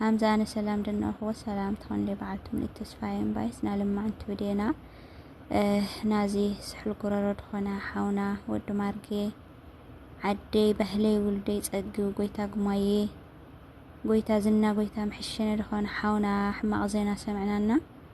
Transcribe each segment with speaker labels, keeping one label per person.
Speaker 1: ሃምዛ ኣነ ሰላም ደናኹ ወሰላም ትኾን ደ በዓልቲ ምልእት ተስፋዬ እምባይስ ናልማዕንቲ ብዴና ናዚ ስሑል ጉረሮ ድኾነ ሓውና ወዲ ማርጌ ዓደይ ባህለይ ውልደይ ጸግብ ጎይታ ጉማዬ ጎይታ ዝና ጎይታ ምሕሸነ ድኾነ ሓውና ሕማቕ ዜና ሰምዕናና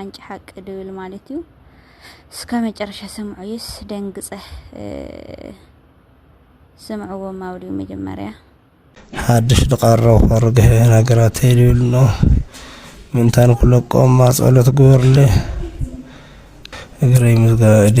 Speaker 1: ኣንጭ ሓቂ ድብል ማለት እዩ። እስከ መጨረሻ ስምዑይስ ደንግጸ ስምዕዎ ማውዲ መጀመርያ ሓድሽ
Speaker 2: ድቃረው ርግሐ ነገራት ይብል ነው ምንታን ኩለቆማ ጸሎት ግበርለ እግረይ ምስጋ እዴ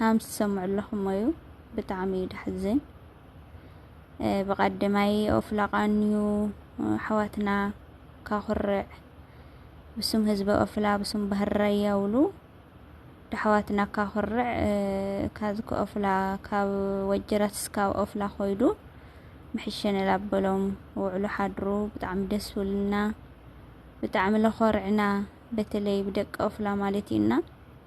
Speaker 1: ሃምስ ትሰምዑ ኣለኹም እዩ ብጣዕሚ እዩ ዳሕዝን ብቀደማይ ኦፍላቃንዩ ኣሕዋትና ካኩርዕ ብስም ህዝበ ኦፍላ ብስም ባህር ራያ ውሉ ዳሕዋትና ካኩርዕ ካዝ ከኦፍላ ካብ ወጀራት ስካብ ኦፍላ ኮይዱ ምሕሸነ ላበሎም ውዕሉ ሓድሩ ብጣዕሚ ደስ ውልና ብጣዕሚ ለኮርዕና በተለይ ብደቂ ኦፍላ ማለት እዩና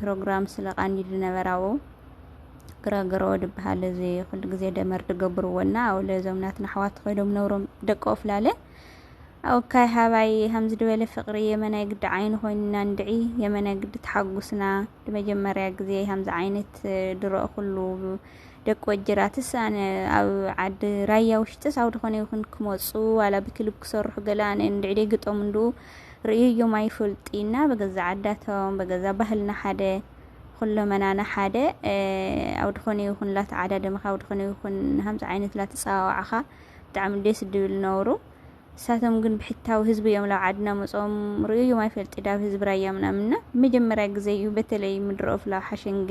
Speaker 1: ፕሮግራም ስለ ቃኒሉ ነበር ኣዎ ግረግሮ ድበሃል እዚ ኩሉ ግዜ ደመር ድገብርዎና ኣብ ለዞም ናትና ኣሕዋት ኮይዶም ነብሮም ደቂ ኦፍላለ ኣውካይ ሃባይ ከምዚ ድበለ ፍቅሪ የመናይ ግዲ ዓይኒ ኮይንና እንድዒ የመናይ ግዲ ተሓጉስና ንመጀመርያ ግዜ ከምዚ ዓይነት ድረኦ ኩሉ ደቂ ወጅራትስ ኣነ ኣብ ዓዲ ራያ ውሽጥስ ኣብ ድኾነ ይኹን ክመፁ ዋላ ብክልብ ክሰርሑ ገለ ኣነ እንድዒ ደይ ግጠሙ እንዱ ርእዩዩም ኣይፍልጥይ እና በገዛ ዓዳቶም በገዛ ባህልና ሓደ ኹሎመናና ሓደ ኣውድኾነ ይኹን ላት ዓዳ ደመኻ ኣውድኾነ ይኹን ሃምፃ ዓይነት ላት ፀዋዋዕኻ ብጣዕሚ ደስ ድብል ነውሩ እሳቶም ግን ብሕታዊ ህዝቢ እዮም ላብ ዓድና መፆም ርእዩዩም ኣይፈልጢ ዳብ ህዝቢ ራያ ምናምና መጀመሪያ ግዜ እዩ በተለይ ምድረ ኦፍላ ሓሸንገ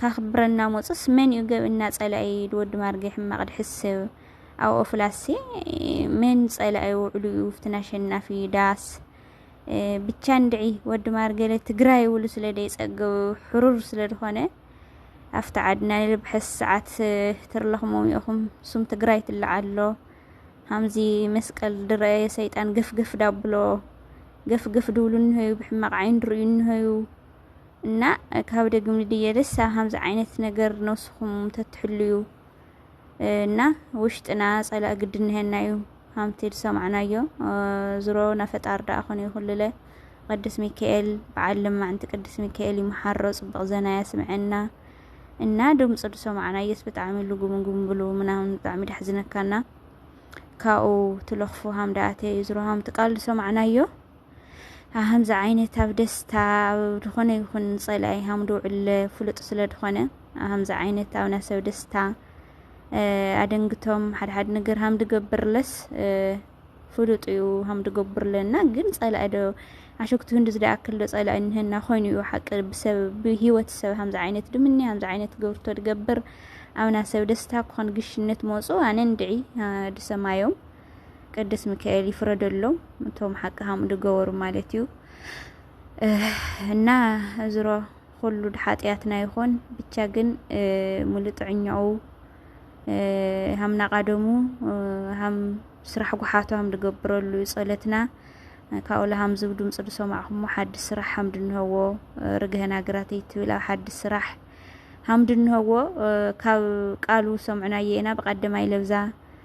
Speaker 1: ከክብረና ሞጽስ መን እዩ ገብና ጸላኢ ኢድ ወዲ ማርጌ ሕማቅ ድሕስብ ኣብ ኦፍላሲ መን ጸላኢ ውዕሉ እዩ ውፍትን ኣሸናፊ ዳስ ብቻ እንድዒ ወዲ ማርጌለ ትግራይ ውሉ ስለ ደይጸገቡ ሕሩር ስለ ድኾነ ኣብቲ ዓድና ንልብሐስ ሰዓት ትርለኽሞም ኢኹም ሱም ትግራይ ትለዓሎ ሃምዚ መስቀል ድረ ሰይጣን ገፍገፍ ዳብሎ ገፍገፍ ድብሉ እንሆዩ ብሕማቕ ዓይን ድርእዩ እንሆዩ እና ካብ ደግም ንድየልስ ኣብ ከምዚ ዓይነት ነገር ነብስኹም ተትሕልዩ እና ውሽጥና ጸላእ ግዲ ንሄና እዩ ሃምቲ ዝሰማዕናዮ ዝሮ ናፈጣር ደኣ ኮነ ይኹልለ ቅዱስ ሚካኤል በዓል ልማዕንቲ ቅዱስ ሚካኤል ይመሓሮ ጽቡቕ ዘና ያስምዐና እና ድምፁ ዝሰማዕናዮስ ብጣዕሚ ልጉምጉም ብሉ ምናምን ብጣዕሚ ዳሕዝነካና ካብኡ ትለኽፉ ሃም ደኣተ እዩ ዝሮ ሃምቲ ቃል ዝሰማዕናዮ ከምዚ ዓይነት ኣብ ደስታ ኣብ ዝኾነ ይኹን ጸላኢ ሃም ድውዕል ፍሉጥ ስለ ዝኾነ ከምዚ ዓይነት ኣብ ናሰብ ደስታ ኣደንግቶም ሓድሓድ ነገር ሃም ድገብርለስ ፍሉጥ እዩ ሃም ድገብርለና ግን ጸላኢ ዶ ኣሸክቱ ህንዲ ዝደኣክል ዶ ጸላኢ ንህና ኮይኑ እዩ ሓቂ ብሰብ ብሂወት ሰብ ከምዚ ዓይነት ድምኒ ከምዚ ዓይነት ገብርቶ ድገብር ኣብና ሰብ ደስታ ክኾን ግሽነት መጹ ኣነ እንድዒ ድሰማዮም ቅዱስ ሚካኤል ይፍረደሎም እቶም ሓቂ ሃም ድገበሩ ማለት እዩ እና እዝሮ ኩሉ ሓጢኣትና ይኾን ብቻ ግን ሙሉ ጥዕኛኡ ሃምና ቃደሙ ሃም ስራሕ ጉሓቱ ሃም ድገብረሉ ጸለትና ካብኡላ ሃም ዝብ ድምፂ ድሰማዕኹሞ ሓዲ ስራሕ ሃም ድንሀዎ ርግሀና ግራተይ ትብል ኣብ ሓዲ ስራሕ ሃም ድንሀዎ ካብ ቃሉ ሰምዕናዮ ኢና ብቀደማይ ለብዛ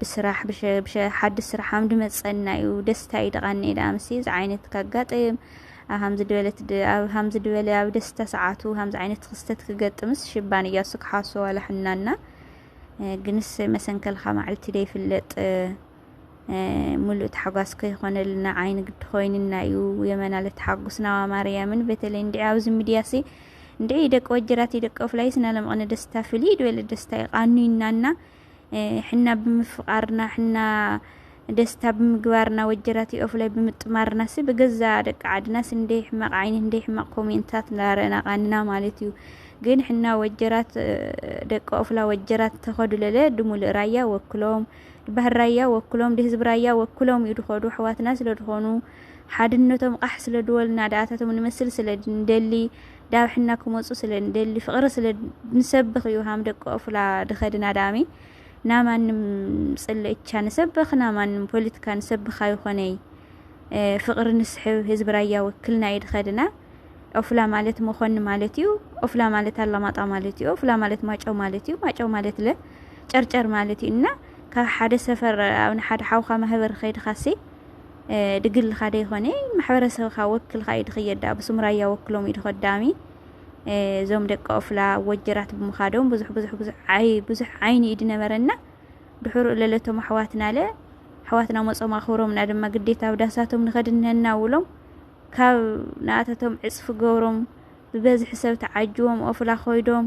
Speaker 1: ብስራሕ ብሸ ብሸ ሓድሽ ስራሕ ኣምዲ መጸና እዩ ደስታ እዩ ደቃኒ ደኣ ምስ እዚ ዓይነት ካጋጥም ኣብ ሃምዚ ድበለት ኣብ ሃምዚ ድበለ ኣብ ደስታ ሰዓቱ ሃምዚ ዓይነት ክስተት ክገጥምስ ሽባን እያ እሱ ክሓሶ ዋላ ሕናና ግንስ መሰንከልካ ማዕልቲ ደይፍለጥ ሙሉእ ታሕጓስ ከይኾነልና ዓይኒ ግዲ ኮይንና እዩ የመና ለተሓጉስና ማርያምን በተለይ እንዲ ኣብዚ ሚድያ ሲ እንዲ ደቂ ወጀራት ደቂ ፍላይስ ናለምቕነ ደስታ ፍልይ ድበለ ደስታ ይቃኑይናና ሕና ብምፍቃርና ሕና ደስታ ብምግባርና ወጀራት ኦፍላይ ብምጥማርና ሲ ብገዛ ደቂ ዓድና ሲ እንደይ ሕማቅ ዓይኒ እንደይ ሕማቅ ኮሜንታት እንዳረእና ቃንና ማለት እዩ ግን ሕና ወጀራት ደቂ ኦፍላ ወጀራት ተኸዱለለ ድሙልእ ራያ ወክሎም ባህር ራያ ወክሎም ድህዝቢ ራያ ወክሎም እዩ ድኸዱ ኣሕዋትና ስለ ድኾኑ ሓድነቶም ቓሕ ስለ ድወልና ድኣታቶም ንመስል ስለ ንደሊ ዳብሕና ክመጹ ስለ ንደሊ ፍቕሪ ስለ ንሰብኽ እዩ ሃም ደቂ ኦፍላ ድኸድን ኣዳሚ ናማንም ጽለ እቻ ንሰብኽ ናማንም ፖለቲካ ንሰብኻ ይኾነይ ፍቕሪ ንስሕብ ህዝቢ ራያ ወክልና እዩ ድኸድና ኦፍላ ማለት መኾኒ ማለት እዩ። ኦፍላ ማለት ኣላማጣ ማለት እዩ። ኦፍላ ማለት ማጨው ማለት እዩ። ማጨው ማለት ለ ጨርጨር ማለት እዩ እና ካብ ሓደ ሰፈር ኣብ ሓደ ሓውካ ማህበር ከይድካሲ ድግልኻ ደይኮነ ማሕበረሰብካ ወክልካ እዩ ድኸየድ ዳኣ ብስም ራያ ወክሎም እዩ ድኸዳሚ እዞም ደቂ ኦፍላ ወጀራት ብምኻዶም ብዙሕ ብዙሕ ብዙሕ ዓይ ብዙሕ ዓይኒ እዩ ድነበረና ድሕሩ ለለቶም ኣሕዋትናለ ኣሕዋትና መጾም ኣኽብሮምና ድማ ግዴታ ኣብ ዳሳቶም ንኸድ እነሀና ውሎም ካብ ንኣተቶም ዕጽፊ ገብሮም ብበዝሒ ሰብ ተዓጅቦም ኦፍላ ኮይዶም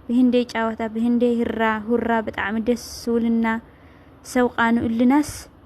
Speaker 1: ብህንደይ ጫወታ ብህንደይ ህራ ሁራ ብጣዕሚ ደስ ዝብልና ሰብ ቃንኡልናስ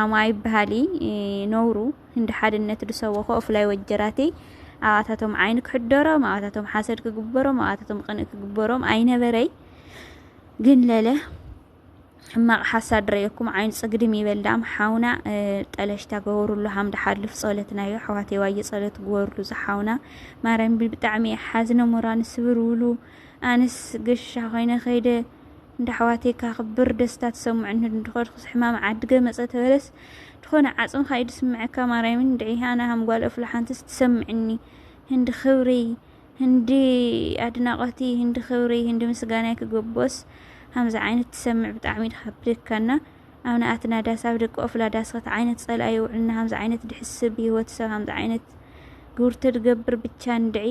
Speaker 1: ዓማ ኣይበሃሊ ነውሩ እንዲ ሓድነት ድሰወኾ እፍላይ ወጀራተይ ኣባታቶም ዓይኒ ክሕደሮም ኣባታቶም ሓሰድ ክግበሮም ኣባታቶም ቅንእ ክግበሮም ኣይነበረይ ግን ለለ ሕማቕ ሓሳድ ረየኩም ዓይኑ ጽግድም ይበልዳም ሓውና ጠለሽታ ገበሩሉ ሃምዳ ሓልፍ ጸሎትናዮ ኣሕዋተይ ዋየ ጸሎት ግበሩሉ ዝሓውና ማርያም ብጣዕሚ ሓዝነ ሞራን ስብር ውሉ ኣንስ ገሻ ኮይነ ከይደ እንዳ ኣሕዋተይ ካክብር ደስታ ተሰሙዕኒ እንድኮድኩስ ሕማም ዓድገ መጸ ተበለስ ድኮነ ዓጽምካ እዩ ድስምዐካ ማርያም እንድዒ ኣነ ሃም ጓል እፍላ ሓንትስ ትሰምዕኒ ህንዲ ክብርይ ህንዲ ኣድናቆትይ ህንዲ ክብርይ ህንዲ ምስጋናይ ክገቦስ ሃምዚ ዓይነት ትሰምዕ ብጣዕሚ ድካ ብደካና ኣብ ንኣትና ዳስ ኣብ ደቂ ኦፍላ ዳስ ከት ዓይነት ጸላኢ ይውዕልና ሃምዚ ዓይነት ድሕስብ ብህይወት ሰብ ሃምዚ ዓይነት ግብርተ ድገብር ብቻ እንድዒ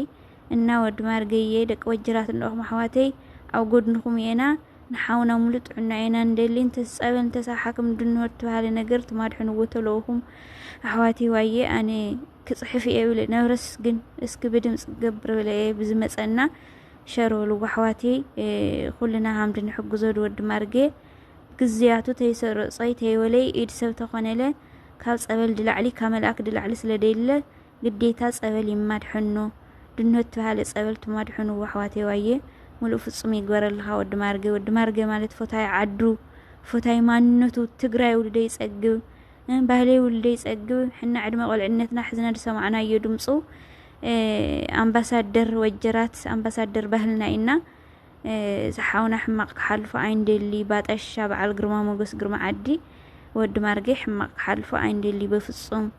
Speaker 1: እና ወዲ ማርገዬ ደቂ ወጀራት እንድኹም ኣሕዋተይ ኣብ ጎድንኹም እየና ንሓውና ሙሉእ ጥዕና እየና ንደሊ እንተስ ጸበል እንተስ ኣብ ሓክም ድንወር ትበሃለ ነገር ትማድሕንዎ ተለውኹም ኣሕዋተይ ዋየ ኣነ ክጽሕፍ እየ ብለ ነብረስ ግን እስኪ ብድምጽ ገብር ብለ እየ ብዝመጸና ሸር በልዎ ኣሕዋተይ ኩልና ሃምድ ንሕግዞ ድወዲ ማርጌ ግዝያቱ ተይሰረጾይ ተይወለይ ኢድ ሰብ ተኾነለ ካብ ጸበል ድላዕሊ ካብ መልኣክ ድላዕሊ ስለ ደይለ ግዴታ ፀበል ይማድሐኖ ድንሆት ትበሃለ ፀበል ትማድሑንዎ ኣሕዋተይ ዋየ ሙሉእ ፍፁም ይግበረልኻ ወዲ ማርገ ወዲ ማርገ ማለት ፎታይ ዓዱ ፎታይ ማንነቱ ትግራይ ውልደይ ፀግብ ባህለይ ውልደይ ፀግብ ሕና ዕድመ ቆልዕነትና ሕዝና ዝሰማዕናዮ ድምፁ ኣምባሳደር ወጀራት ኣምባሳደር ባህልና ኢና ዝሓውና ሕማቕ ክሓልፎ ኣይንደሊ ባጠሻ በዓል ግርማ ሞገስ ግርማ ዓዲ ወዲ ማርገ ሕማቕ ክሓልፎ ኣይንደሊ በፍፁም